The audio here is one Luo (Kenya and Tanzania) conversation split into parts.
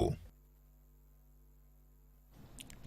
Kamau.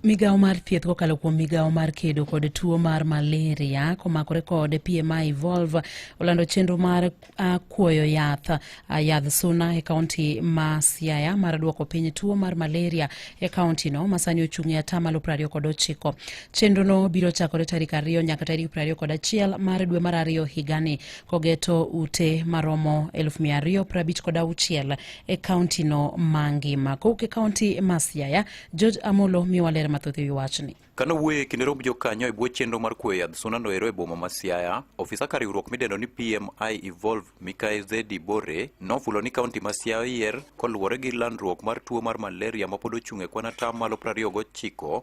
Migawo mar thieth kokalo kuom migawo mar kedo kod tuo mar malaria komakore kod PMI Evolve olando chenro mar uh, kuoyo yath uh, yadh suna e kaunti ma Siaya mar duoko piny tuo mar malaria e kaunti no masani ochung' e atamalo prariyo kod ochiko. Chenro no biro chakore tarik ariyo nyaka tarik prariyo kod achiel mar dwe mar ariyo higani kogeto ute maromo elfu mia ariyo prabich kod auchiel e kaunti no mangima. Kowuok e kaunti ma Siaya, George Amolo miyowa ler mathoth e wi wachni. Kano wuoye kinde romb jokanyo e bwo chenro mar kuoyo yadh suna no ero e boma ma Siaya, ofisa ka riwruok midendo ni PMI Evolve Mikae Zedi Bore nofulo ni kaunti ma Siaya oyier koluwore gi landruok mar tuo mar malaria mapod ochung' e kwan ataa malo 29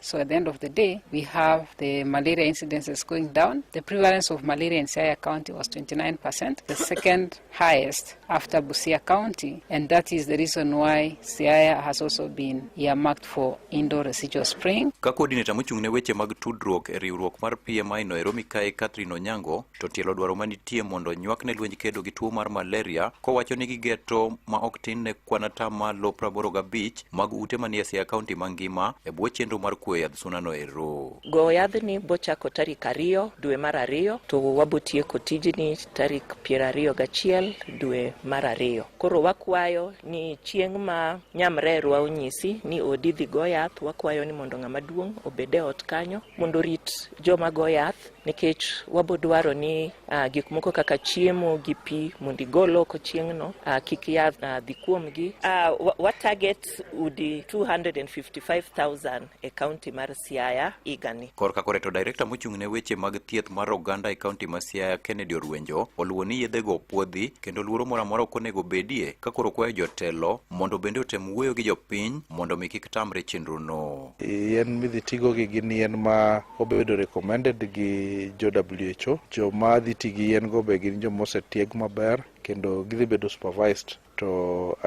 So at the end of the day, we have the malaria incidences going down. The prevalence of malaria in Siaya County was 29%, the second highest after Busia County, and that is the reason why Siaya has also been earmarked for indoor residual spraying. Ka coordinator mochung' ne weche mag tudruok e riwruok mar PMI no Eromi Kae Catherine Onyango to tielo dwaro manitie mondo nywak ne lwenj kedo gi tuo mar malaria kowacho ni gigeto ma ok tin ne kwan atamalo 85 mag ute manie Siaya County mangima e bwo chenro mar kuoyo yadh sunano ero. Goyo yadhni bochako tarik ariyo dwe mar ariyo to wabotieko tijni tarik piero ariyo gachiel dwe mar ariyo. Koro wakwayo ni chieng' ma nyamrerwa onyisi ni odi dhi go yath, wakwayo ni mondo ng'ama duong' obed e ot kanyo mondo orit joma go yath nikech wabo dwaro ni uh, gik moko kaka chiemo gi pi mondo igol oko chieng'no uh, kik yath uh, dhi kuomgi uh, wa target udi 255,000 e kaunti mar Siaya igani. Korka koreto direkta mochung' ne weche mag thieth mar oganda e kaunti ma Siaya Kennedy Orwenjo oluwo ni yedhego opuodhi kendo luoro moro amora ok onego bedie ka koro kwayo jotelo mondo bende otem wuoyo gi jopiny mondo mi kik tamre chenrono. Yien midhi tigo gi gin yien ma obedo recommended gi jo WHO. Jo ma dhi ti gi yien go be gin jo mosetieg maber kendo gidhi bedo supervised to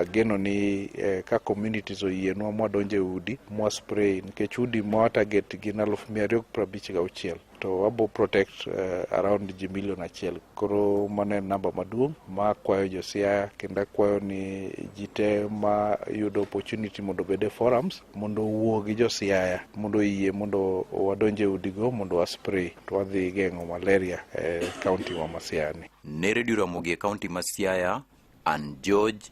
ageno ni eh, ka communities oyienwa mwadonjo e udi mwa spray nikech udi mwa target gin aluf mia ariyo gi prabich gauchiel to wabo protect uh, around ji milion achiel koro mano en namba maduong' ma akwayo josiaya kendo akwayo ni ji te ma yudo opportunity mondo obed e forums mondo owuo gi josiaya mondo oyie mondo wadonje udigo mondo waspray to wadhi geng'o malaria e kaunti wa masiani ne redio ramogi e kaunti ma siaya an george